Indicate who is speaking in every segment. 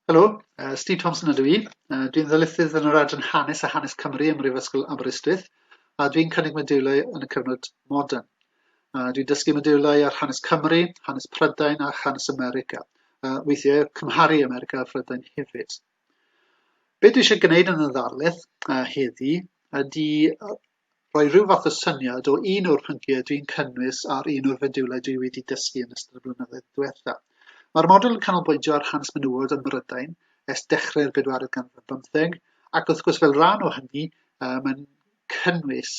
Speaker 1: Helo, uh, Steve Thompson ydw i. Uh, dwi'n ddylysydd yn yr adran Hanes a Hanes Cymru ym Mhrifysgol Aberystwyth, a dwi'n cynnig modiwlau yn y cyfnod modern. Uh, dwi'n dysgu modiwlau ar hanes Cymru, hanes Prydain a hanes America. Uh, weithiau cymharu America a Phrydain hefyd. Be dwi eisiau gwneud yn y ddarlith uh, heddi ydy rhoi rhyw fath o syniad o un o'r pynciau dwi'n cynnwys ar un o'r fediwlau dwi wedi dysgu yn ystod y blynyddoedd diwetha. Mae'r model yn canolbwyntio ar hanes menywod ym Mhrydain ers dechrau'r bedwaredd ganrif bymtheg, ac wrth gwrs fel rhan o hynny, uh, mae'n cynnwys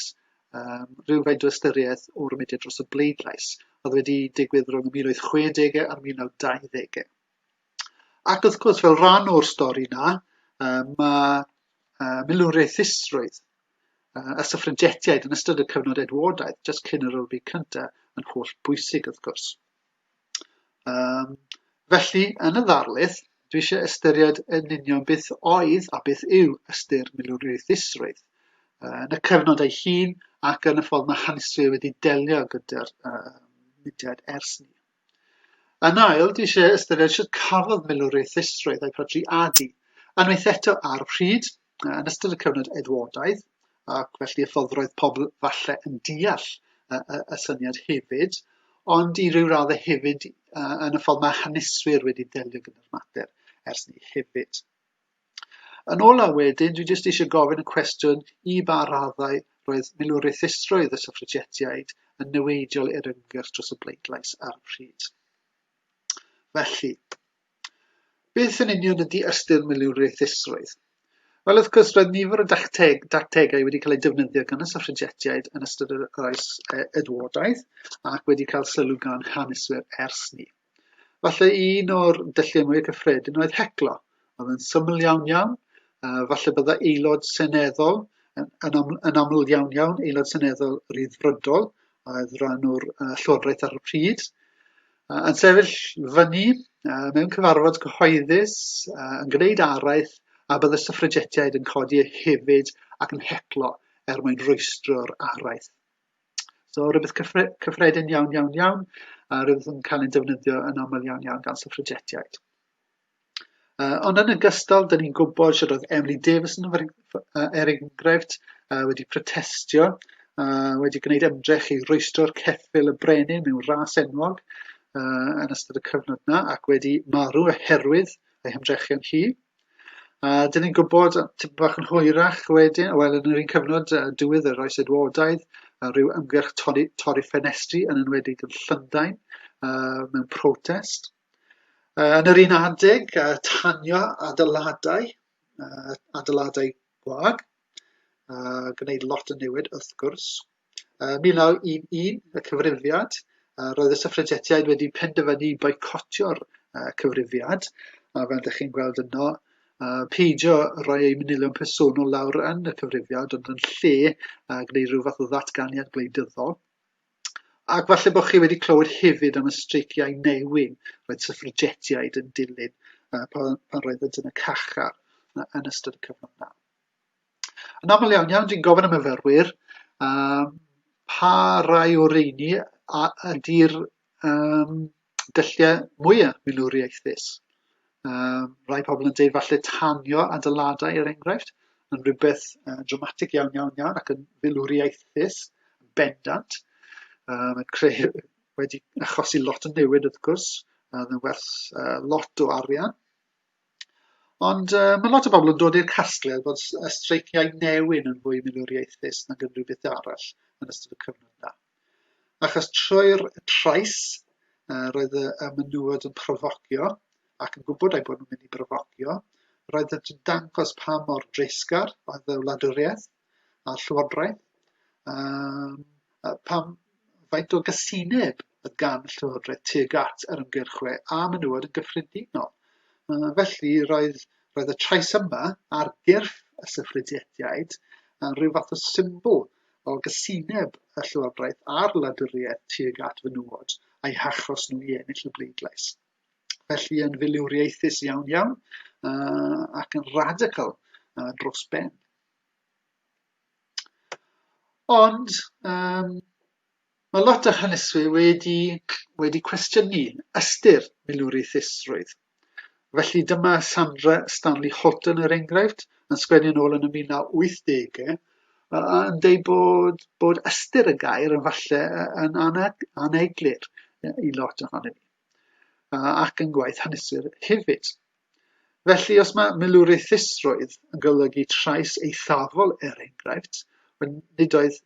Speaker 1: um, rhywfaint o ystyriaeth o'r mudiad dros y bleidlais, oedd wedi digwydd rhwng y 1860 a'r 1920au. Ac wrth gwrs, fel rhan o'r stori yna, mae uh, milwriaethusrwydd uh, y syffragetiaid yn ystod y cyfnod Edwardaidd, jyst cyn yr Olympic cyntaf, yn holl bwysig wrth gwrs. Um, felly, yn y ddarlith, dwi eisiau ystyried yn union beth oedd a beth yw ystyr milwriaethusrwydd uh, yn y cyfnod ei hun ac yn y ffordd mae haneswyr wedi delio gyda'r uh, mudiad ers ni. Yn ail, dwi eisiau ystyried sut cafodd milwriaeth ddistroedd a'i phrodi adi, unwaith eto ar pryd, yn ystod y cyfnod Edwardaidd, ac felly y ffordd roedd pobl falle yn deall y, y, y syniad hefyd, ond i ryw radd hefyd yn y ffordd mae haneswyr wedi delio gyda'r mater ers ni hefyd. Yn ola wedyn, dwi jyst eisiau gofyn y cwestiwn i ba raddau roedd milwriaethusrwydd y syffragetiaid yn niweidiol i'r ymgyrch dros y bleidlais ar y pryd. Felly, beth yn union ydy ystyr milwriaethusrwydd? Wel, wrth gwrs, roedd nifer o dacteg, dactegau wedi cael eu defnyddio gan y syffragetiaid yn ystod yr oes e, Edwardaeth ac wedi cael sylw gan haneswyr ers ni. Falle un o'r dylliau mwy cyffredin oedd heclo. Oedd yn syml iawn iawn. Uh, falle bydda aelod seneddol, yn, yn, am, yn aml iawn iawn, aelod seneddol ryddfrydol, oedd rhan o'r uh, llywodraeth ar y pryd, uh, yn sefyll fyny uh, mewn cyfarfod cyhoeddus, uh, yn gwneud araith, a bydd y syffragetiaid yn codi hefyd ac yn heclo er mwyn rwystro'r araith. So rhywbeth cyffre cyffredin iawn, iawn, iawn, a rhywbeth yn cael ei defnyddio yn aml iawn, iawn gan syffragetiaid. Uh, ond yn ogystal, dyn ni'n gwybod sydd oedd Emily Davis yn er enghraifft uh, wedi protestio, uh, wedi gwneud ymdrech i roestro'r ceffil y brenin mewn ras enwog uh, yn ystod y cyfnod yna ac wedi marw oherwydd ei hymdrechion hi. A dyn ni'n gwybod tipyn bach yn hwyrach wedyn, wel yn yr un cyfnod uh, diwedd yr oes Edwardaidd, uh, rhyw ymgyrch torri, torri ffenestri yn enwedig yn Llundain uh, mewn protest. Uh, yn yr un adeg, uh, tanio adeiladau, uh, adeiladau gwag, a gwneud lot o newid wrth gwrs. Yn 1911, y Cyfrifiad, roedd y Syffragetiaid wedi penderfynu boicotio'r Cyfrifiad, a fel ydych chi'n gweld yno, peidio rhoi eu manylion personol lawr yn y Cyfrifiad, ond yn lle gwneud rhyw fath o ddatganiad gwleidyddol. Ac falle bod chi wedi clywed hefyd am y streiciau newyn roedd syffragetiaid yn dilyn pan roeddent yn y cachar yn ystod y cyfnod yna. Yn aml iawn iawn, dwi'n gofyn am myfyrwyr, um, pa rai o reini a ydy'r um, dylliau mwyaf milwriaethus. Um, rai pobl yn dweud falle tanio adeiladau er enghraifft, yn rhywbeth uh, dramatig iawn iawn iawn ac yn filwriaethus, bendant, um, yn creu, wedi achosi lot o newid wrth gwrs, yn werth uh, lot o arian. Ond yy ma' lot o bobl yn dod i'r casgliad bod s- y streiciau newyn yn fwy milwriaethus nag unrhyw beth arall yn ystod y cyfnod yna. Achos trwy'r trais yy roedd y y menywod yn profocio ac yn gwybod eu bod nhw'n mynd i brofocio, roedd yn dangos pa mor dreisgar oedd y wladwriaeth, a Llywodraeth? Um, pam faint o gysineb y gan Llywodraeth tuag at yr ymgyrchwe a menywod yn gyffredinol? Uh, felly, roedd, roedd y trais yma ar gyrff y syffrediediaid yn rhyw fath o symbol o gysineb y Llywodraeth a'r wladwriaeth tuag at fenywod a'i hachos nhw i ennill y bleidlais felly yn filiwriaethus iawn iawn uh, ac yn radical uh, dros ben. Ond yym mae lot o haneswyr wedi wedi cwestiynu ystyr milwriaethusrwydd. Felly dyma Sandra Stanley Holton er enghraifft yn sgwennu yn ôl yn y mil naw wythdege yy a yn deud bod bod ystyr y gair yn falle yy yn ana- aneglur yy i lot ohonon ni. ac yn gwaith hanesur hefyd. Felly, os mae milwriaethusrwydd yn golygu trais eithafol er enghraifft, nid oedd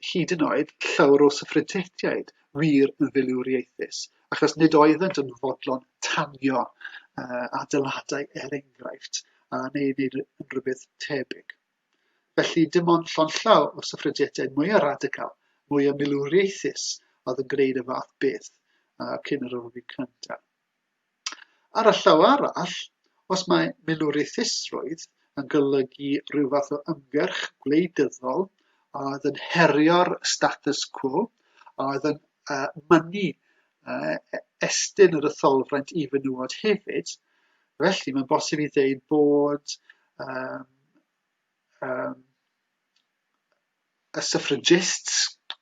Speaker 1: hyd yn oed llawr o syffrydtiaid wir yn filwriaethus, achos nid oeddent yn fodlon tanio uh, adeiladau er enghraifft, a neu wneud rhywbeth tebyg. Felly, dim ond llond-llaw o syffrediadau mwy o radical, mwy o milwriaethus oedd yn gwneud y fath beth uh, cyn yr ofyn cyntaf. Ar y llaw arall, os mae milwriaethusrwydd yn golygu rhyw fath o ymgyrch gwleidyddol a oedd yn herio'r status quo, a oedd yn uh, mynnu uh, estyn yr etholfraint i fenywod hefyd, Felly, mae'n bosib i ddeud bod um, um, y suffragists,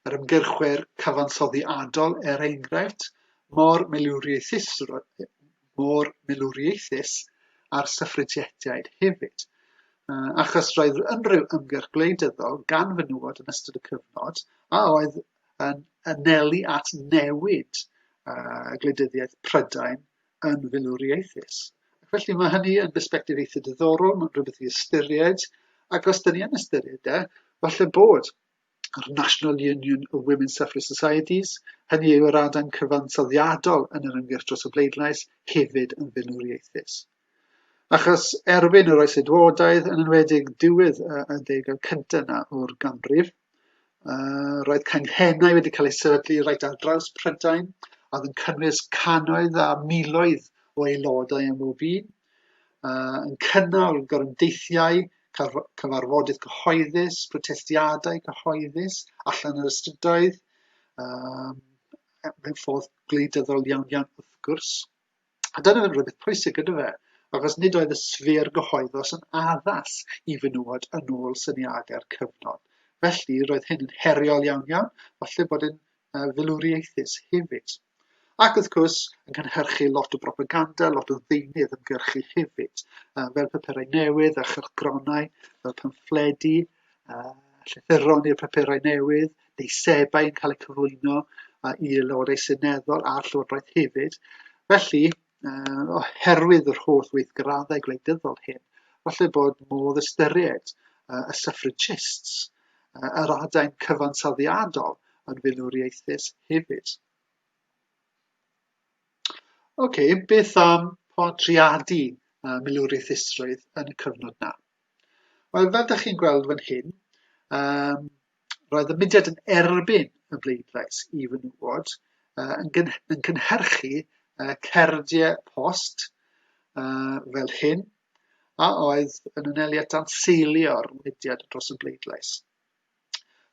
Speaker 1: yr ymgyrchwyr cyfansoddi adol, er enghraifft, mor milwriaethus, mor milwriaethus a'r suffragietiaid hefyd. Uh, achos roedd unrhyw ymgyrch gwleidyddol gan fenywod yn ystod y cyfnod a oedd yn anelu at newid uh, gwleidyddiaeth Prydain yn filwrieithus. Ac felly mae hynny yn bersbectif eitha diddorol, mae'n rhywbeth i ystyried, ac os dyn ni yn ystyried e, falle bod yr National Union of Women Suffrage Societies, hynny yw yr adain cyfansoddiadol yn yr ymgyrch dros y bleidlais, hefyd yn filwrieithus. Achos erbyn yr oes edwodaidd, yn enwedig diwedd y ddegau cyntaf yna o'r ganrif, Uh, roedd canghennau wedi cael eu sefydlu reit ar draws Prydain, a oedd yn cynnwys canoedd a miloedd o aelodau am bob un, uh, yn cynnal gorymdeithiau, cyfarfodydd cyhoeddus, protestiadau cyhoeddus allan yr ystydoedd, um, mewn ffordd gwleidyddol iawn iawn wrth gwrs. A dyna ddim rhywbeth pwysig gyda fe, achos nid oedd y sffer gyhoeddus yn addas i fenywod yn ôl syniadau'r cyfnod. Felly, roedd hyn yn heriol iawn iawn, falle bod yn uh, filwriaethus hefyd. Ac wrth gwrs, yn cynhyrchu lot o propaganda, lot o ddeunydd ymgyrchu hefyd, fel papurau newydd a chylchgronau, fel pamffledi, a llythyron i'r papurau newydd, deisebau yn cael eu cyflwyno a i Lywodau Seneddol a'r Llywodraeth hefyd. Felly, uh, oherwydd yr holl weithgraddau gwleidyddol hyn, falle bod modd ystyried uh, y suffragists, uh, yr adain cyfansoddiadol yn filwriaethus hefyd. Oce, okay, beth am podriadu uh, milwriaethusrwydd yn y cyfnod na? Wel, fel ydych chi'n gweld fan hyn, um, roedd y mudiad yn erbyn y bleidlais i fy nŵod, uh, yn, gyn yn cynhyrchu uh, cerdiau post uh, fel hyn, a oedd yn aneliad dan seilio'r mudiad dros y bleidlais.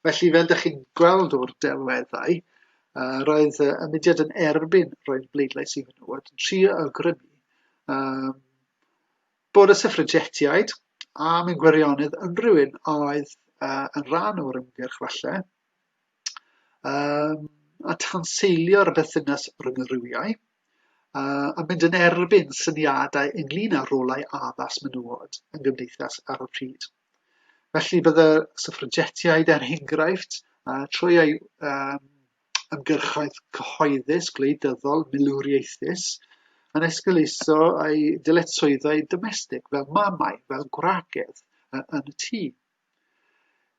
Speaker 1: Felly, fel ydych chi'n gweld o'r delweddau, uh, roedd y mudiad yn erbyn roedd bleidlais i fy nŵod, yn trio awgrymu um, Bod y syffragetiaid am ein gwirionedd unrhyw un oedd uh, yn rhan o'r ymgyrch falle, um, a tanseilio'r bethynas rhwng y rhywiau, uh, a mynd yn erbyn syniadau ynglyn â rolau addas menywod yn gymdeithas ar y pryd. Felly bydde syffragetiaid er enghraifft, uh, trwy eu um, ymgyrchoedd cyhoeddus, gwleidyddol, milwriaethus, yn esgeuluso ei dyletswyddau domestig fel mamau, fel gwragedd yn y tŷ.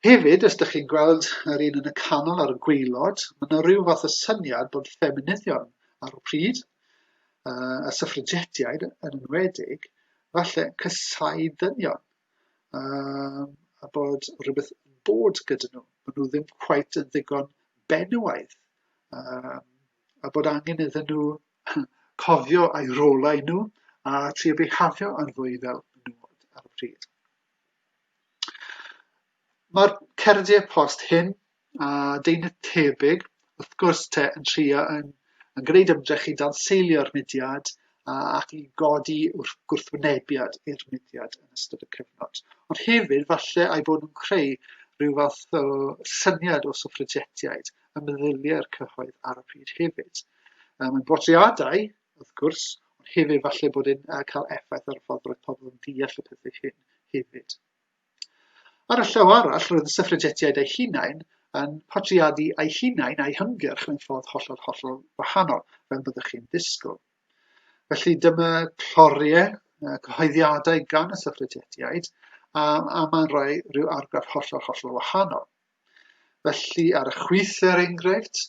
Speaker 1: Hefyd, os ydych chi'n gweld yr un yn y canol ar y gweilod, mae yna rhyw fath o syniad bod ffeminyddion ar y pryd, a syffragetiaid yn enwedig, falle cysau dynion. um, a bod rhywbeth yn bod gyda nhw. Maen nhw ddim quite yn ddigon benywaidd. Um, a bod angen iddyn nhw cofio a'i rolau nhw a ti o behafio yn fwy fel menywod ar y pryd. Mae'r cerdiau post hyn a deunydd tebyg, wrth gwrs te, yn trio yn, yn gwneud ymdrech i danseilio'r mudiad a, ac i godi wrth gwrthwynebiad i'r mudiad yn ystod y cyfnod. Ond hefyd, falle ai bod nhw'n creu rhyw fath o syniad o suffragetiaid y meddyliau'r cyhoedd ar y pryd hefyd. Um, yn bodriadau, wrth gwrs, ond hefyd falle bod yn uh, cael effaith ar y ffordd roedd pobl yn deall y pethau hyn hefyd. Ar y llaw arall, roedd y syffragetiaid eu hunain yn portreadu eu hunain a'u hymgyrch mewn ffordd hollol, hollol wahanol, fel byddwch chi'n ddisgwyl. Felly dyma cloriau, cyhoeddiadau gan y syffragetiaid, a, a mae'n rhoi rhyw argraff hollol, hollol wahanol. Felly, ar y chwith, er enghraifft,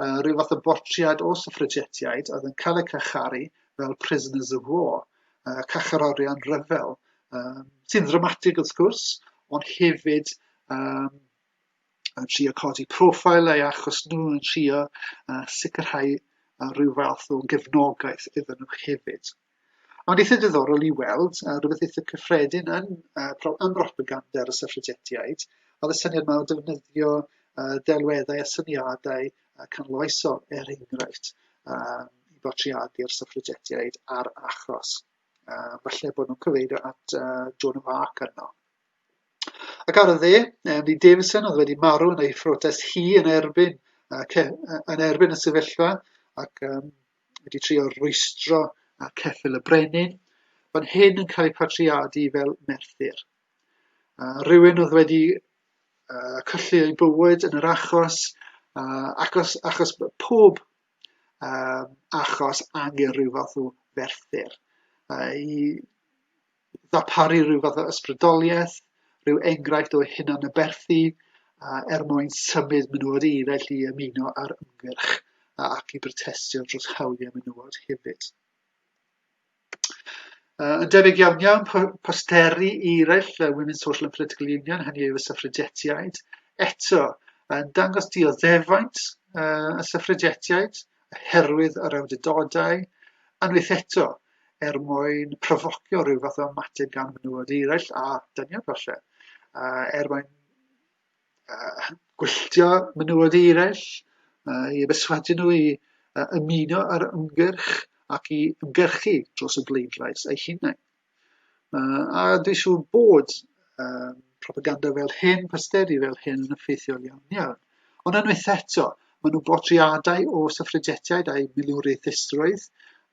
Speaker 1: uh, rhyw fath o bortread o syffragetiaid oedd yn cael eu cacharu fel prisoners of war, uh, cacherorion rhyfel, um, sy'n ddramatig wrth gwrs, ond hefyd um, yn trio codi profil ei achos nhw yn trio uh, sicrhau uh, rhyw fath o gefnogaeth iddyn nhw hefyd. Ond eitha diddorol i weld, uh, rhywbeth eitha cyffredin yn, uh, pro, yn propaganda ar y syffrigetiaid, oedd y syniad yma o defnyddio uh, delweddau a syniadau uh, canloesol, er enghraifft, uh, i bortreadu'r syffrigetiaid a'r achos. Uh, falle bod nhw'n cyfeirio at uh, Joan of Arc yno. Ac ar y dde, Emily Davison oedd wedi marw yn ei phrotest hi yn erbyn, uh, yn erbyn y sefyllfa ac um, wedi trio rwystro ar ceffyl y brenin, fan hyn yn cael ei patriadu fel Merthyr. Uh, rhywun oedd wedi uh, colli ei bywyd yn yr achos, uh, achos, achos pob uh, achos angen rhyw fath o ferthyr. Uh, I ddarparu rhyw fath o ysbrydoliaeth, rhyw enghraifft o hunanaberthu uh, er mwyn symud menywod i eraill i ymuno ar ymgyrch ac i brotestio dros hawliau menywod hefyd. Uh, yn debyg iawn iawn, posteri i eraill uh, Women's Social and Political Union, hynny yw y syffrigetiaid, eto yn dangos dioddefaint uh, y syffrigetiaid, oherwydd yr awdurdodau, unwaith eto, er mwyn profocio rhyw fath o ymateb gan fenywod eraill a dynion falle, uh, er mwyn uh, gwylltio menywod eraill, uh, i beswadu nhw i uh, ymuno ar ymgyrch ac i ymgyrchu dros y bleidlais eu hunain. Yy, a dwi'n siŵr bod uh, propaganda fel hyn, posteri fel hyn yn effeithiol iawn iawn. Ond unwaith eto, maen nhw'n bortreadau o syffrigetiaid a'i milwriaethusrwydd,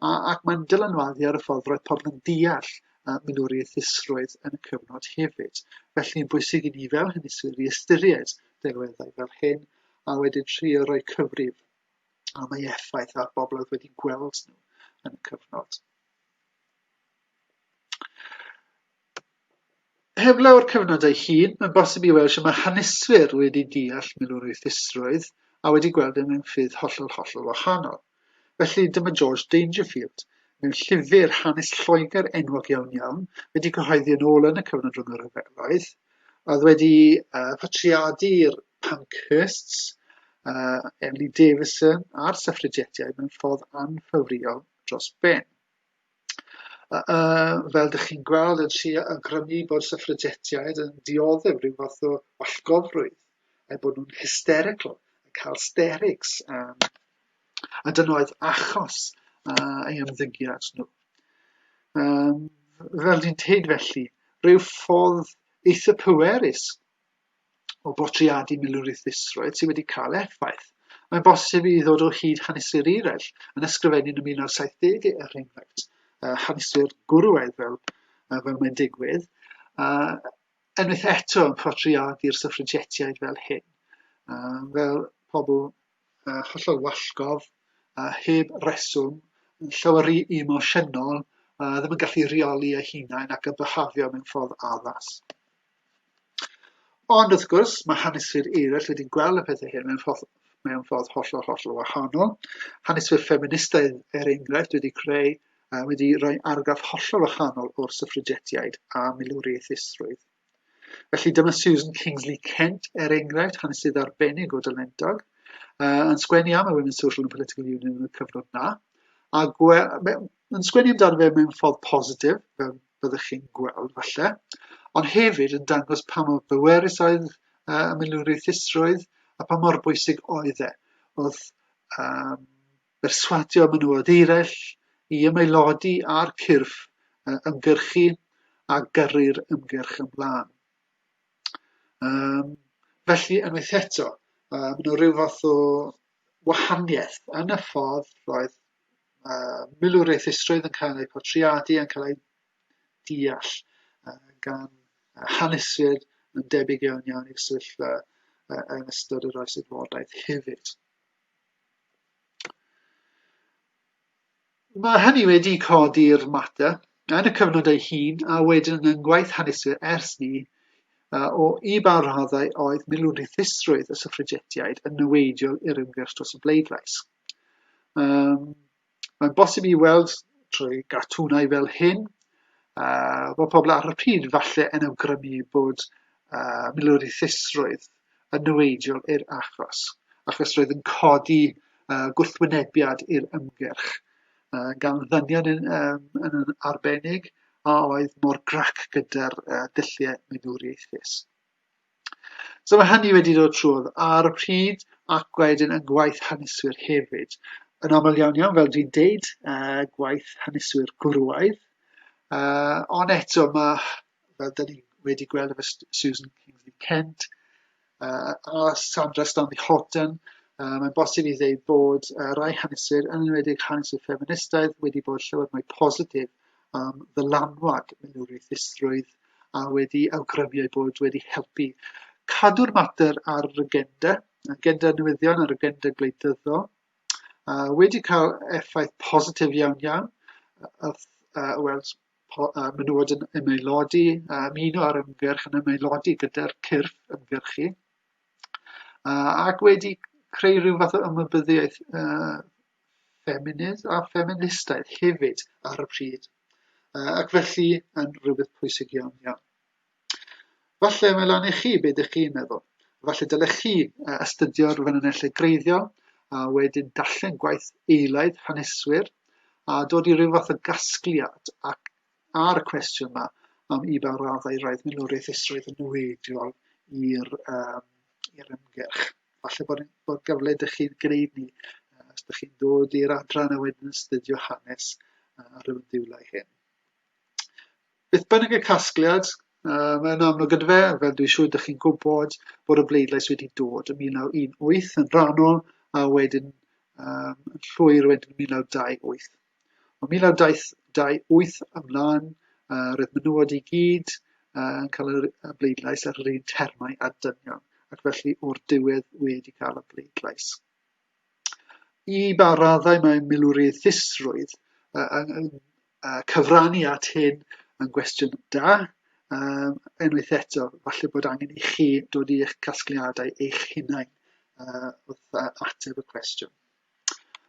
Speaker 1: a, ac mae'n dylanwadu ar y ffordd roedd pobl yn deall uh, milwriaethusrwydd yn y cyfnod hefyd. Felly, yn bwysig i ni fel hynny sy'n i ystyried delweddau fel hyn, a wedyn trio rhoi cyfrif am ei effaith ar bobl oedd wedi gweld nhw yn y cyfnod. Heblaw ar cyfnod ei hun, mae'n bosib i weld sut mae haneswyr wedi deall milwrwythrwydd a wedi gweld e mewn ffyrdd hollol, hollol wahanol. Felly, dyma George Dangerfield, mewn llyfr hanes Lloegr enwog iawn iawn, wedi cyhoeddi yn ôl yn y cyfnod rhwng y rhyfeloedd, a oedd wedi uh, patriadu'r Pankhursts, uh, Emily Davison a'r Suffragettiaid mewn ffordd anffafriol dros ben. Yy fel dych chi'n gweld yn lle awgrymu bod syffragetiaid yn dioddef rhyw fath o wallgofrwydd eu bod nhw'n hysterical yn cael sterics um, a dyna oedd achos uh, ei ymddygiad nhw. Um, fel dwi'n teud felly, rhyw ffordd eitha pwerus o bortreadu milwriaethusrwydd sydd wedi cael effaith. Mae'n bosib i ddod o hyd haneswyr eraill yn ysgrifennu'n y 1970 er enghraifft uh, haneswyr gwrywaidd fel, uh, fel mae'n digwydd, uh, enwaith eto yn portreadu'r syffrigetiaid fel hyn, uh, fel pobl uh, hollol wallgof, uh, heb reswm, yn llawer rhy emosiynol, uh, ddim yn gallu rheoli eu hunain ac yn byhafio mewn ffordd addas. Ond, wrth gwrs, mae haneswyr eraill wedi gweld y pethau hyn mewn ffordd, mewn ffordd hollol, hollol wahanol. Haneswyr ffeministaidd, er enghraifft, wedi creu, uh, wedi rhoi argraff hollol wahanol o'r syffrigetiaid a milwriaethusrwydd. Felly dyma Susan Kingsley Kent, er enghraifft, hanesydd arbennig o dylendog, uh, yn sgwennu am y Women's Social and Political Union yn y cyfnod na, a gwe, yn sgwennu amdano fe mewn ffordd positif, fel fyddwch chi'n gweld falle, ond hefyd yn dangos pa mor bwerus oedd uh, y milwriaethusrwydd a pa mor bwysig oedd e. Oedd um, berswadio menywod eraill i ymaelodi ar cyrff uh, ymgyrchu a gyrru'r ymgyrch ymlaen. Um, felly, unwaith eto, uh, mae yna rhyw fath o wahaniaeth yn y ffordd roedd uh, milwriaethusrwydd yn cael eu portreadu, yn cael eu deall uh, gan haneswyr yn debyg iawn iawn i'r sefyllfa uh, yn ystod yr oes adfodaeth hefyd. Mae hynny wedi codi'r mater yn y cyfnod ei hun a wedyn yn ngwaith haneswyr ers 'ny, o i ba raddau oedd milwrithusrwydd y syffragetiaid yn niweidiol i'r ymgyrch dros y bleidlais. Um, mae'n bosib i weld trwy gartwnau fel hyn, uh, bod pobl ar y pryd falle yn awgrymu bod uh, milwrithusrwydd yn niweidiol i'r achos, achos roedd yn codi uh, gwrthwynebiad i'r ymgyrch. uh, gan ddynion yn, um, yn, yn arbennig a oedd mor grac gyda'r uh, dulliau meddwriaethus. So mae hynny wedi dod trwodd ar y pryd ac wedyn yn gwaith haneswyr hefyd. Yn aml iawn iawn, fel dwi'n deud, uh, gwaith haneswyr gwrwaidd. Uh, ond eto mae, fel dyn ni wedi gweld efo Susan Kingsley Kent, uh, a Sandra Stanley Horton, uh, mae'n bosib i ddeud bod uh, rai haneswyr, yn enwedig haneswyr ffeministaidd, wedi bod llawer mwy positif am ddylanwad milwriaethusrwydd a wedi awgrymu eu bod wedi helpu cadw'r mater ar yr agenda, agenda newyddion a'r agenda gwleidyddol, uh, wedi cael effaith positif iawn iawn, uh, uh, wel, menywod yn ymaelodi, a ymuno ar ymgyrch yn ymaelodi gyda'r cyrff ymgyrchu, uh, ac wedi creu rhyw fath o ymwybyddiaeth uh, ffeminydd a ffeministaidd hefyd ar y pryd, uh, ac felly yn rhywbeth pwysig iawn iawn. Falle mae lan i chi be dych chi'n meddwl. Falle dylech chi astudio'r ffynonellau greiddiol a wedyn darllen gwaith eilaidd haneswyr a dod i ryw fath o gasgliad ac ar y cwestiwn yma am i ba raddau roedd milwriaeth isroedd yn niweidiol i'r um, i'r ymgyrch. Falle bod, bod gyfle dych chi'n gwneud ni os dych chi'n dod i'r adran a wedyn yn astudio hanes ar y diwlau hyn. Beth bynnag y casgliad, mae'n amlwg yn fe, fel dwi'n siŵr ydych chi'n gwybod, bod y bleidlais wedi dod yn 1918 yn rhannol a wedyn um, yn llwyr wedyn 1928. O 1928 ymlaen, uh, roedd menywod i gyd uh, yn cael y bleidlais ar yr un termau a dynion, ac felly o'r diwedd wedi cael y bleidlais. i ba raddau mae milwrieithrwydd yy yn yn yy cyfrannu at hyn yn gwestiwn da. Yym, unwaith eto, falle bod angen i chi dod i eich casgliadau eich hunain yy, wrth yy ateb y cwestiwn.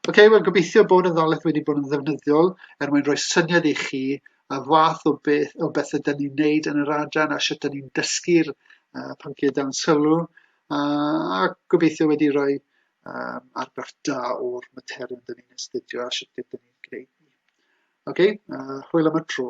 Speaker 1: Ok, wel gobeithio bod y ddalaeth wedi bod yn ddefnyddiol er mwyn rhoi syniad i chi y fath o beth o beth ydyn ni'n wneud yn yr adran a sut ydyn ni'n dysgu'r uh, pynciau dan sylw. a gobeithio wedi rhoi um, argraff da o'r materion dyn ni'n astudio a sut dyn ni'n gwneud ni. Oce, okay, uh, hwyl am y tro.